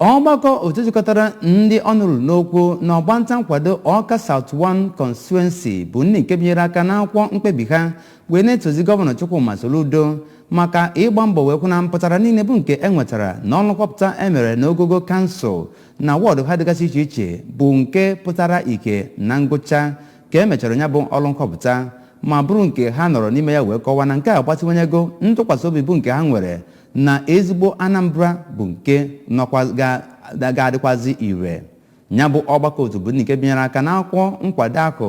ọgbakọ otu jikọtara ndị ọnụ ruru n'okwu na ọgbanta nkwado ọka South 1 constituency bụ ndị nke binyere aka n'akwụkwọ mkpebi ha wee na-etozi gọvanọ Chukwuma Soludo maka ịgba mbọ wee kwụ na mpụtara niile bụ nke e nwetara na ọrụ nhọpụta e mere n'ogogo kansụl na wọdụ ha dịgasị iche iche bụ nke pụtara ihe na ngwụcha ka e mechara ya bụ ọrụ nhọpụta ma bụrụ nke ha nọrọ n'ime ya wee kọwaa na nke a gbatịwanyego ntụkwasị obi bụ nke ha nwere na ezigbo Anambra bụ nke ga-adịkwazi ire ya bụ ọgbakọ otu bụ nke binyere aka n'akwụkwọ nkwado ahụ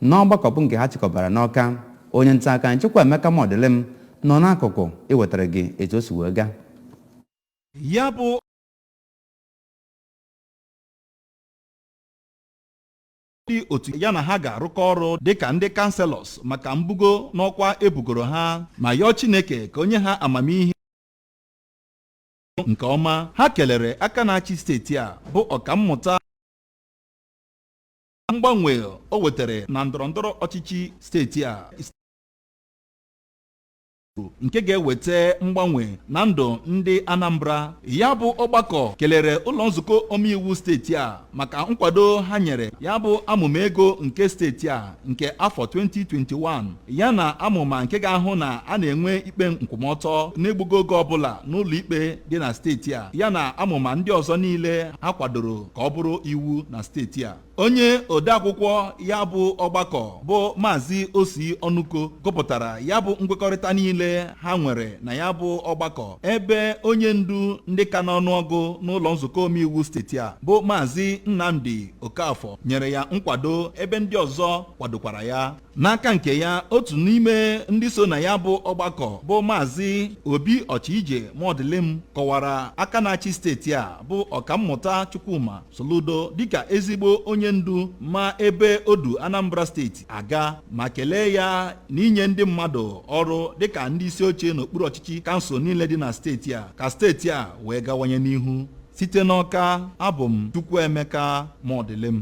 n'ọgbakọ bụ nke ha chịkọbara n'ọka onye nta akụkọ chukwuemeka mọdịlịm nọ n'akụkụ iwetara gị etu o si wee gaa ya bụ ndị otu ya na ha ga-arụkọ ọrụ dịka ndị kanselọs maka mbugo n'ọkwa e bugoro ha ma yọọ Chineke ka o nye ha amamihe nke ọma ha kelere aka na-achị steeti a bụ ọkammụta mgbanwe o wetara na ndọrọndọrọ ọchịchị steeti a nke ga-eweta mgbanwe na ndụ ndị Anambra ya bụ ọgbakọ kelere ụlọ nzukọ omeiwu steeti a maka nkwado ha nyere ya bụ amụma ego nke steeti a nke afọ 2021 ya na amụma nke ga-ahụ na a na-enwe ikpe nkwụmọtọ n'egbughị oge ọbụla n'ụlọ ikpe dị na steeti a ya na amụma ndị ọzọ niile ha kwadoro ka ọ bụrụ iwu na steeti a onye odeakwụkwọ ya bụ ọgbakọ bụ maazị osi ọnụko gụpụtara ya bụ nkwekọrịta niile ha nwere na ya bụ ọgbakọ ebe onye ndu ndị ka n'ọnụọgụ n'ụlọ nzukọ omeiwu steeti a bụ maazị nnamdi okafọ nyere ya nkwado ebe ndị ọzọ kwadokwara ya n'aka nke ya otu n'ime ndị so na ya bụ ọgbakọ bụ maazị obi ọchije mọdịlịm kọwara aka na-achị steeti a bụ ọkammụta chukwuma soludo dịka ezigbo onye ndu ma ebe o du anambra steeti aga ma kelee ya na inye ndị mmadụ ọrụ dịka ndị isi oche n'okpuru ọchịchị kansụl niile dị na steeti a ka steeti a wee gawanye n'ihu site n'ọka abụ m chukwuemeka mọdịlịm